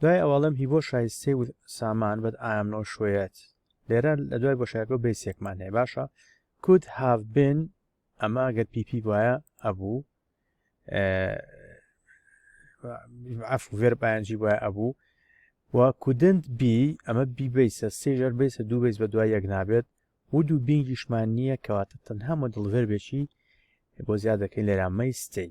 دوای ئەوەڵم هی بۆ شایستەی و سامان بەد ئایام نۆ شوێت لێرە لە دوای بۆ شایەت بۆ بەیسێکمان هەیە باشە کود هاف بن ئەمە گەر پیپی وایە ئەبوو عف ڤێر پایەنجی وایە ئەبوو و کودنت بی ئەمە بیبیسە سێژەر بیسە دوو بیس بە دوای یەک نابێت و دوو بینگیشمان نییە کەواتە تەنها مۆدڵ ڤێربێکی بۆ زیاد دەکەین لێرامەی ستەی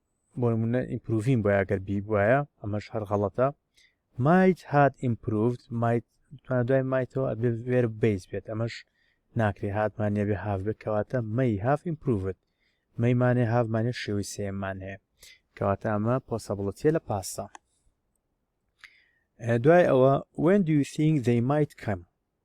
بۆنمونە ئیمپروڤین بۆ ئەگەر بی بواە ئەمەش هەر غەڵەتە مایت هات ئیمپروڤد مایت توانە دوای مایتەوە ئەبێ وێر بیس بێت ئەمەش ناکرێ هاتمان نێبێ هاف بێت کەواتە مەی هاف ئیمپروڤد مەیمانێ هاافمانێ شێوی سێمان هەیە کەواتە ئەمە پۆسەبڵەتە لە پاستا دوای ئەوە وێن دوی سینگ دەی مایت کەم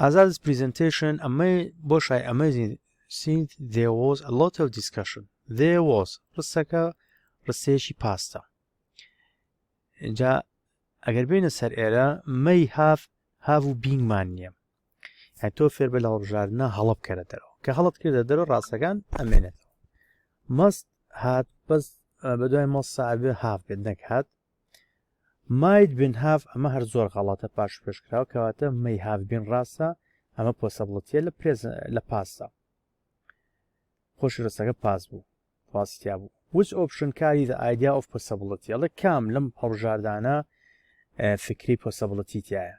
ئازاد پریزنتیشن ئەمەی بۆ شای ئەمەزین سینت دێوۆز لۆت و دیسکشن دێوۆز ڕستەکە ڕستەیەکی پاستە جا ئەگەر بینە سەر ئێرە مەی هاف هاف و بینگمان نییە هە تۆ فێر بە لە هەڵبژاردنە هەڵە بکەرە دەرەوە کە هەڵت کردە دەرە ڕاستەکان ئەمێنێتەوە مەست هات بەس بەدوای مەستا ئەبێ هاف بێت نەکات ماید بن هاف ئەمە هەر زۆر غەڵەتە پاش پێش کراوە کەواتە مەی هاف بین ڕاستە ئەمە پۆسەبڵەتە لە پرێز لە پاسدا خۆش ڕستەکە پاس بوو ڕاستیا بوو وچ ئۆپشن کاری دە ئایدیا ئۆف پۆسەبڵەتی ئەڵێ کام لەم هەڵژاردانە فکری پۆسەبڵەتی تایە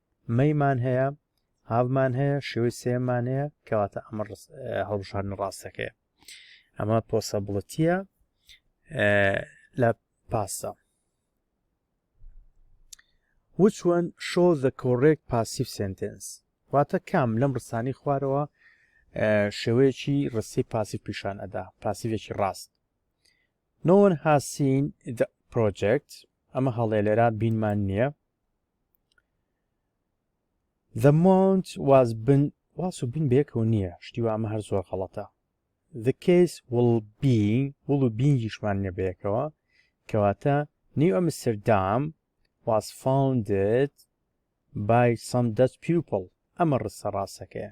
مەی مان هەیە هاڤ مان هەیە شێوەی سێم مان هەیە کەواتە ئەمە هەڵبژاردن ڕاستەکەیە ئەمە پۆسەبڵەتیە لە پاسە which one show the correct passive sentence واتە کام لەم ڕسانی خوارەوە شێوەیەکی ڕستی پاسی پیشان ئەدا پاسیڤێکی ڕاست No one has seen the project ئەمە هەڵێ لێرا بینمان نییە The mount was been واس و بین بەیەکەوە نییە شتی وامە هەر زۆر غەڵەتە The case will be will و بینگیشمان نیە بەیەکەوە کەواتە نیو ئەمستردام was founded by some Dutch people ئەمە ڕستە ڕاستەکەیە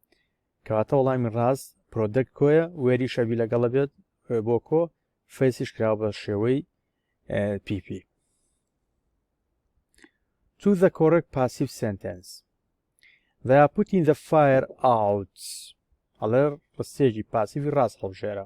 کەواتە وەڵامی ڕاست پرۆدەک کۆیە وێری شەبی لەگەڵە بێت بۆ کۆ فەیسیش کراوە بە شێوەی پیپی تو ذە کۆرک پاسیف سنتنس ذا پوتین ذە فایر ئاوت ئەڵێ ڕستێکی پاسیفی ڕاست هەڵبژێرە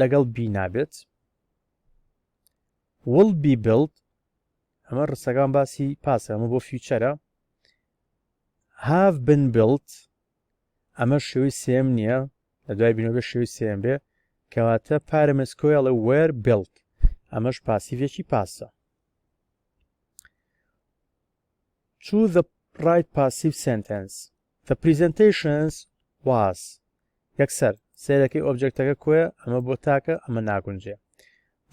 لەگەڵ بی نابێت will be built ئەمە ڕستەکان باسی پاسە ئەمە بۆ فیوچەرە have been built ئەمە شێوی سێم نییە لە دوای بینەوە شێوی سێم بێ کەواتە پارەمەسکۆیڵە وەر بلت ئەمەش پاسیڤێکی پاسە چوو the right passive sentence The presentations was یەکسەر سەیرەکەی ئۆبجێکتەکە کۆیە ئەمە بۆ تاکە ئەمە ناگونجێ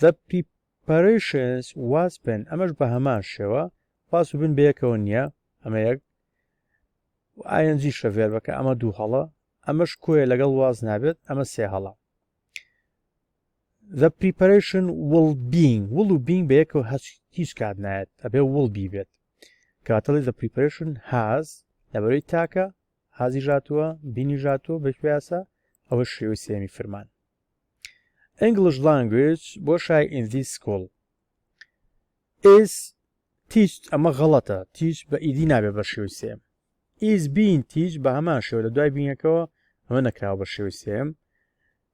The preparations was been ئەمەش بە هەمان شێوە واس و بن بەیەکەوە نییە ئەمە یەک ئاەنجی شەڤێر بەکە ئەمە دوو هەڵە ئەمەش کۆیە لەگەڵ واز نابێت ئەمە سێ هەڵە The preparation will being will و being بە یەکەوە هەچ هیچ کات نایەت ئەبێ will be بێت کاتەڵی the preparation has لەبەرەی تاکە هازی ژاتووە بینی ژاتووە بە پیاسە ئەوە شێوەی سێمی فرمان English language بۆ شای in this school is تیچ ئەمە غەڵەتە تیچ بە ئیدی نابێ بە شێوی سێم ئیز بین تیچ بە هەمان شێوە لە دوای بینەکەەوە ئەمە نەکراوە بە شێوی سێم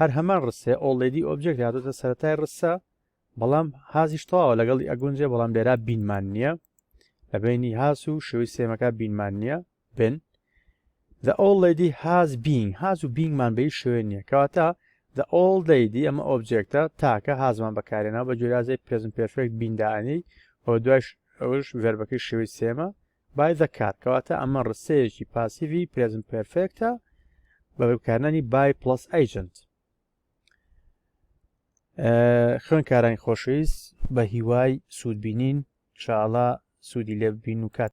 هەر هەمان ڕستەیە ئۆڵێدی ئۆبجێکت هاتۆتە سەرەتای ڕستە بەڵام هازیش تەواوە لەگەڵی ئەگونجێ بەڵام لێرا بینمان نییە لە بینی هاس و شێوی سێمەکە بینمان نییە بن The old lady has been هاز و بینگمان بەی شوێ نییە کەواتە The old lady ئەمە ئۆبجێکتە تاکە هازمان بەکارێنەوە بە جۆرازەی پێزم پێرفێکت بینداانی و دوایش ئەوش ڤێربەکەی شێوی سێمە بای زە کات کەواتە ئەمە ڕستەیەکی پاسیڤی پرێزنت پێرفێکتە بە بەکارنانی بای پڵس ئەیجنت خوێنکارانی خۆشەویست بە هیوای سوودبینین شاڵە سوودی لێ ببین و کات